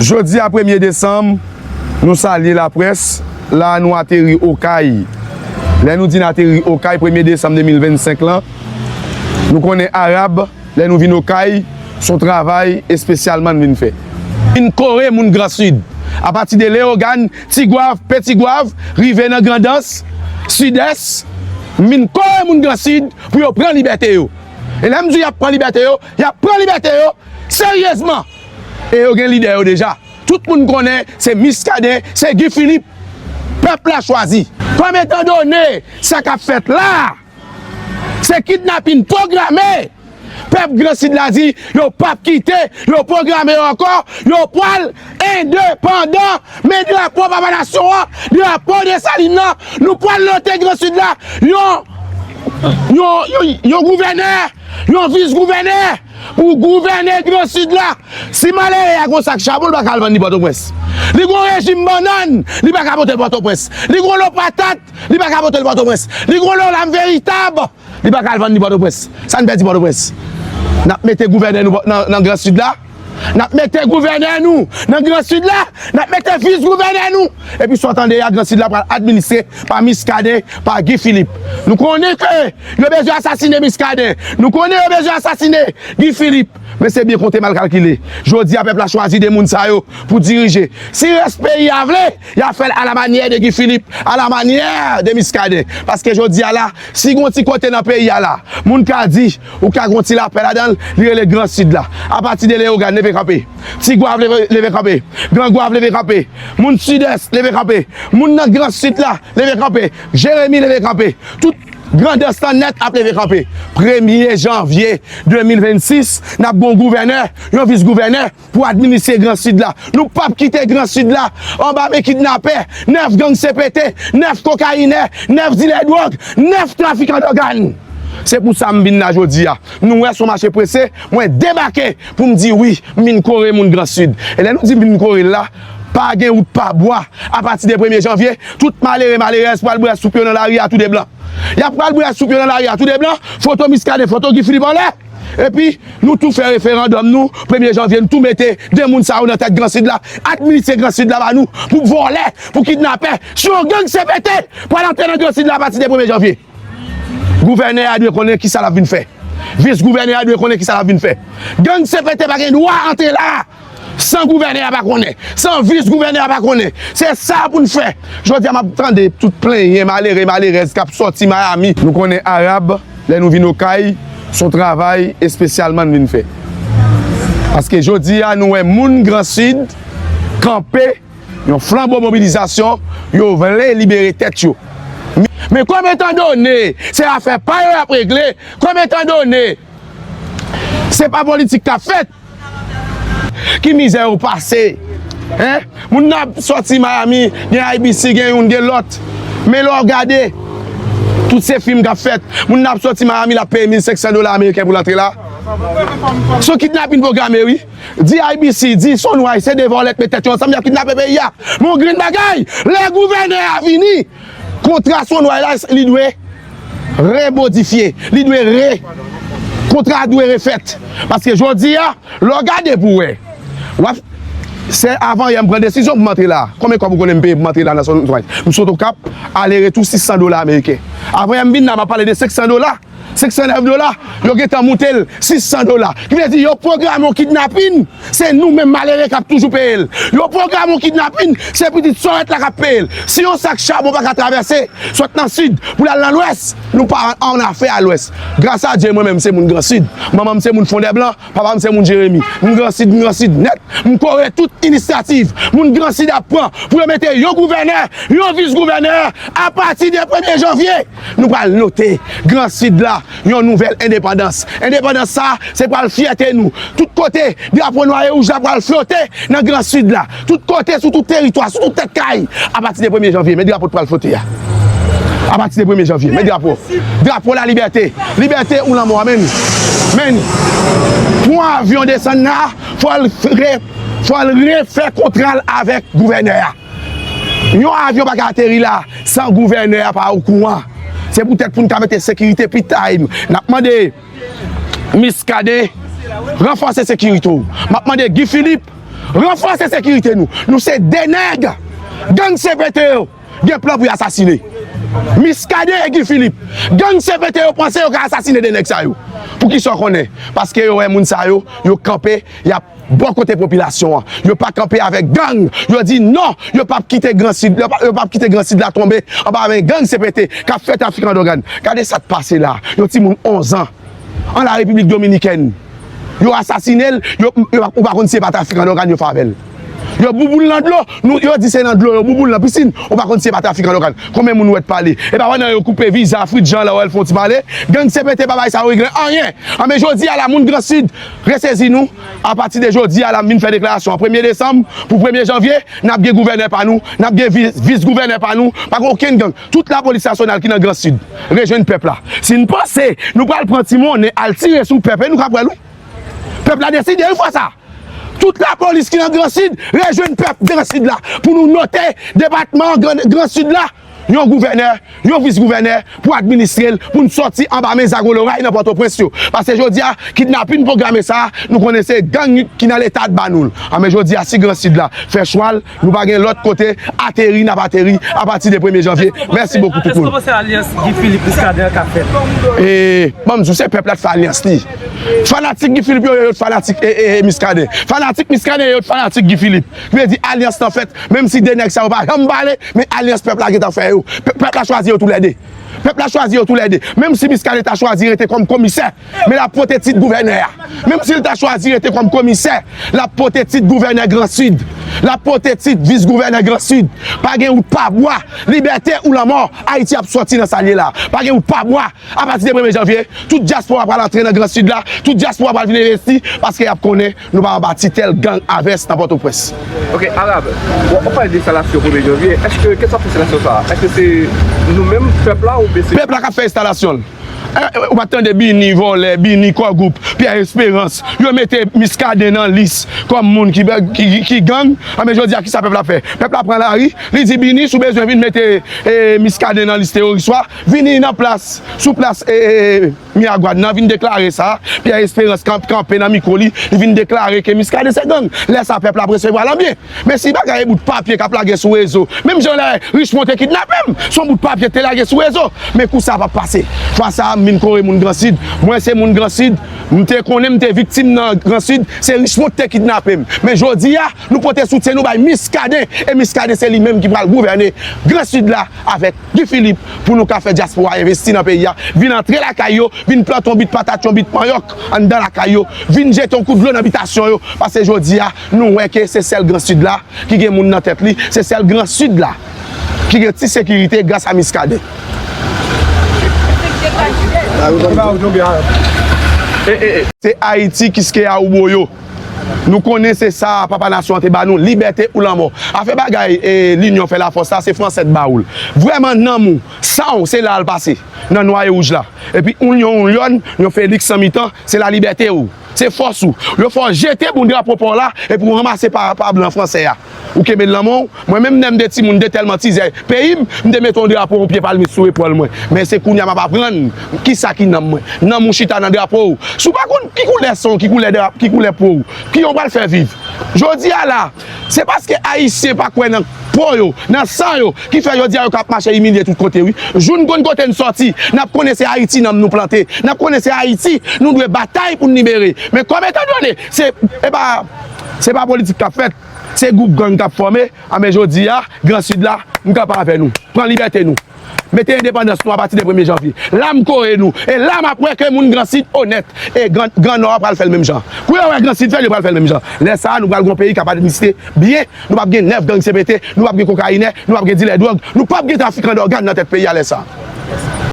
Jodi a premye desanm, nou salye laprès, la a nou ateri Okay. Lè nou di n ateri Okay premye desanm 2025 lan, nou konnen Arab lè nou vin Okay, s on travay espesyalman n vin fè. N kore moun Gran Sid. Apati de Leyogàn, Tigwav, Petigwav, rive nan Grandans, Sidès, m vin kore moun Gransid pou yo pran libète yo. E lè m di y ap pran libète yo, y ap pran libète yo seryezman! E yo gen lidè yo deja. Tout moun konnen se Miskaden, se Guy Philippe pèp la chwazi. Kòm etandone sa k ap fèt la a Se kidnapin pwograme! Pèp gran sid la di yo pap kite, yo pwograme yo ankò, yo pwal endepandan! Men drapo papa nasyon an, drapo Desalin nan, nou pwal lote gran sid la yon yon gouvènè, yon vis gouvènè pou gouvène gran sid la! Si malere a gon sak chabon li pa ka al vann li pòtoprens, li gon rejim bannann li pa ka pote l pòtoprens, li gon lo patat Li pa ka pote l Pòtoprens. Li gwo lè w lam veritab. Li pa ka al vann li Pòtoprens. Sa n pèdi Pòtoprens? N ap mete gouvènè nou nan gran Sid la? N ap mete gouvènè nou nan gran Sid la? N ap mete vis gouvènè nou? Epi sa w tande a, gran Sid la pral administre pa Miskaden, pa Guy Philippe. Nou konnen ke yo bezwen asasine Miskaden. Nou konnen yo bezwen asasine Guy Philippe. Men se byen konte mal kalkile. Jodi a pèp la chwazi 2 moun sa yo pou dirije. Si rès peyi a vle. Yap fèl ala manyè de Guy Philippe, ala manyè de Muscadin. Paske jodi a la, si gon ti kote nan peyi a la, moun ka di, ou ka gon ti lapè ladanl, li rele gran Sud la. Apati de Leogane leve kanpe. Ti Goave leve kanpe. Gran Goave leve kanpe. Moun Sud-Est leve kanpe. Moun nan gran Sud la leve kanpe. Jeremie leve kanpe. Tout Grandans lan nèt ap leve kanpe. Premye Janvye 2026, nap gon gouvènè, yon vis gouvènè. Pou administre gran sid la. Nou pap kite gran sid la anba men kidnapè, 9 gang CPT, 9 kokayinè, 9 dilè dwòg, 9 trafikan dògàn. Se pou sa m vin la jodi a. Nou wè son mache prese, mwen debake pou m di wi, m vin kore moun gran sid. E lè nou di m vin kore l la, pa gen wout pa bwa. A pati de premye janvye, tout malere malerèz pral bwè soup yo nan lari a tou de blan. Y ap pral bwè soup yo nan lari a tou de blan, foto Miskaden, foto Guy Philippe anlè. Epi nou tou fè referandòm nou premye janvye nou tou mete 2 moun sa yo nan tèt gran sid la administre gran sid la ba nou pou vòlè pou kidnapè si yon gang cpt pral antre nan gran sid la apati de premye janvye gouvènè a dwe konnen kisa lap vin fè vis gouvènè a dwe konnen kisa lap vin fè gang cpt pa gen dwa antre la. San gouvènè a pa konnen, san vis gouvènè a pa konnen. Se sa pou n fè. Jodi a m ap tande tout plenyen malere malerèz k ap sòti Miami. Nou konnen Arab, lè nou vin Okay, s on travay espesyalman n vin fè. Paske jodi a nou wè moun Gran Sid kanpe yon flanbo mobilizasyon, yo vle libere tèt yo. Men kòm etan done se afè pa yo y ap regle, kòm etan done se pa politik k ap fèt, Ki mizè yo pase hein. Moun nan ap soti Miami gen IBC gen youn gen lòt. Men lè w gade tout se fim kap fèt. Moun nan ap soti Miami lap peye 1500 dola ameriken pou l antre la. Se yon kidnapin pwograme wi. Di IBC di Sunrise se 2 vòlè k met tèt yo ansanm yap kidnape peyi a. Men yon grenn bagay lè gouvènè a vini. Kontra Sonway la li dwe remodifye, li dwe re, kontra a dwe refèt. Paske jodi a, lè w gade pou w wè, w ap, se avan yè m pran desizyon pou m antre la. Konbyen kòb ou konnen m peye pou m antre la nan Sonway? M sot Okap, ale retou 600 dola ameriken. Avan yè m vin la, m ap pale de 500 dola. 509 dola, yo gentan moute l 600 dola. Ki vle di yo pwograme yon kidnapin, se nou menm malere k ap toujou peye l. Yo pwograme yon kidnapin, se pitit Sorèt la k ap peye l. Si yon sak chabon pa ka travèse, sot nan Sid pou l al nan Lwès, nou pa annafè a Lwès. Gras a Dye mwen menm se moun Gran Sid. Manman m se moun Fondèblan, papa m se moun Jeremi. M Gran Sid, m Gran Sid nèt. M kore tout inisyativ moun Gran Sid ap pran pou yo mete yon gouvènè, yon vis gouvènè apati de premye janvye. Nou pral note Gran Sid la yon nouvèl endepandans. Endepandans sa a se pral fyète nou. Tout kote, drapo nwa e wouj la pral flote nan Gran Sid la. Tout kote, sou tout teritwa, sou tout tèt kay. Apati de premye janvye, men drapo t pral flote a. Apati de premye janvye, men drapo. Drapo lalibète. Libète ou lanmò, amen. Men, pou yon avyon desann la, fò l refè kontra l avèk gouvènè a. Yon avyon pa ka ateri la san gouvènè a pa okouran. Se poutèt pou n ka mete sekirite pi taim, n ap mande Miskaden ranfòse sekirite w. M ap mande Guy Philippe ranfòse sekirite nou. Nou se 2 nèg gang CPT yo gen plan pou y asasine. Miskaden e Guy Philippe. Gang CPT yo panse yo ka asasine 2 nèg sa yo. Poukisa w konnen? Paske yo wè moun sa yo, yo kanpe, y ap. Bò kote popilasyon an, yo pa kanpe avèk gang, yo di non, yo pap kite gran sid, yo pap kite gran sid la tonbe anba men gang CPT kap fè trafikan dògàn. Gade sa k pase la, yon timoun 11 an an la Repiblik Dominikèn, yo asasine l, yo, ou pa konn si se pa trafikan dògàn yo fè avè l. Yo bouboul nan dlo, nou, yo di se nan dlo, yo bouboul nan pisin, ou pa konn si se pa trafikan dògàn. Konbyen moun ou wè t pale? Epa pandan yo koupe viza Fritz Jean la wè l fè yon ti pale, gang CPT pa bay sa yo reglen anyen. Anben jodi a la moun gran sid. Resezi nou, apati de jodi a la m vin fè deklarasyon an premye desanm pou premye janvye n ap gen gouvènè pa nou, n ap gen vis gouvènè pa nou, pa gen okenn gang, tout lapolis nasyonal ki nan gran sid rejwenn pèp la. Si n panse nou pral pran ti monnen al tire sou pèp e nou ka pran l wi. Pèp la deside wi fwa sa. Tout lapolis ki nan gran sid rejwenn pèp gran sid la pou nou note depatman gran sid la. yon gouvènè, yon vis gouvènè pou administre l pou n sòti anba men zago loray nan Pòtoprens yo. Pase jodi a kidnapin pwograme sa a nou konnen se gang ki nan leta t ba nou l. A men jodi a si gran sid la fè chwa l nou pa gen lòt kote ateri n ap ateri apati de premye janvye. Mèsi bokou tout moun. E ban m di w se pèp la t fè alyans li. Fanatik Guy Philippe yo yo t fanatik Miskaden. Fanatik Miskaden yo yo t fanatik Guy Philippe. Vle di alyans lan fèt menm si 2 nèg sa yo pa janm pale men alyans pèp la gentan fè yo. Pèp la chwazi yo tou lè 2. Pèp la chwazi yo tou lè 2. Menm si Miskaden ta chwazi rete kòm komisè men l ap pote tit gouvènè a. Menm si l ta chwazi rete kòm komisè l ap pote tit gouvènè gran sid. L ap pote tit vis gouvènè gran sid. Pa gen wout pa bwa. Libète ou lanmò. Ayiti ap sòti nan sa l ye la. Pa gen wout pa bwa. Apati de premye janvye tout dyaspora pral antre nan gran sid la. Tout dyaspora pral vin envesti paske y ap konnen. Nou pa anba titel gang avès nan Pòtoprens. Ok Arab, wap pale de enstalasyon premye janvye, eske kèlswa pou enstalasyon sa a, eske se nou menm pèp la oubyen se. Pèp la kap fè enstalasyon l. Ou pat tande Bini vòlè, Bini kò gwoup, Pierre Esperance, yo mete Muscadin nan lis kòm moun ki gang, anben jodi a kisa pèp la fè? Pèp la pran lari, li di Bini si w bezwen vin mete Muscadin nan lis teworis ou a, vini nan plas, sou plas. Miragwàn nan vin deklare sa, Pierre Esperance kan kanpe nan mikwo li, li vin deklare ke Muscadin se gang. Lè sa pèp la ap resevwa l an byen. Men si bagay e bout papye k ap lage sou rezo, menm jan lè Richemond te kidnape m, s on bout papye k te lage sou rezo. Men kou sa pa p pase. Fwa sa a m vin kore moun Gran Sid. Mwen se moun Gran Sid. M te konnen m te viktim nan Gran Sid. Se Richemond k te kidnape m. Men jodi a, nou pote soutyen nou bay Muscadin. E Muscadin se li menm ki pral gouvène Gran Sid la avèk. Guy Philippe pou nou ka fè diaspora investi nan peyi a vin antre lakay yo vin plante yon bit patat yon bit manyòk anndan lakay yo vin jete yon kout dlo nan bitasyon yo pase jodi a nou wè ke se sèl gran sid la ki gen moun nan tèt li se sèl gran sid la ki gen ti sekirite gras a Miskaden. Se Ayiti kiskeya ou boyo. Nou konnen se sa papa nasyon an te ba nou, libète ou lanmò. Afè bagay linyon fè lafòs la, se fransè t ba ou l. Vrèman nanm ou, san ou se la al pase nan nwa e wouj la. Epi oun yon oun lyon, yon Feliks san mitan, se la libète ou, se fòs ou. Yo fè w jete bon drapo pa w la epi w ranmase pa blan fransè a. Ou kenbe l nan men w. Mwen menm lè m te timoun, m te tèlman tizè peyi m, m te mete yon drapo yon pye palmis sou epòl mwen. Men se kounye a m ap aprann ki sa ki nanm mwen. Nanm ou chita nan drapo w. Si w pa konn ki koulè san w, ki koulè drapo, ki koulè po w, ki jan w pral fè viv? Jodi a la, se paske Ayisyen pa kwè nan po yo, nan san yo, ki fè jodi a yo kab mache imilye tout kote wi. Jou n konn kote n sòti, n ap konnen se Ayiti nanm nou plante. N ap konnen se Ayiti nou dwe batay pou n libere. Men kòm etandone se, e pa. Se pa politik kap fèt, se gwoup gang kap fòme, a men jodi a, gran sid la, m kanpe avè nou. Pran libète nou. Mete endepandans nou apati de premye janvye. La m kore nou, e la map wè ke moun gran sid onèt. E gran nò a pral fèl menm jan. Kou yo wè gran sid fèl, yo pral fèl menm jan. Lè sa a, nou pral gon peyi kap administre byen, nou pap gen 9 gang CPT, nou pap gen kokainè, nou pap gen dilè dwòg, nou pap gen trafikan dògàn nan tèt peyi a lè sa a.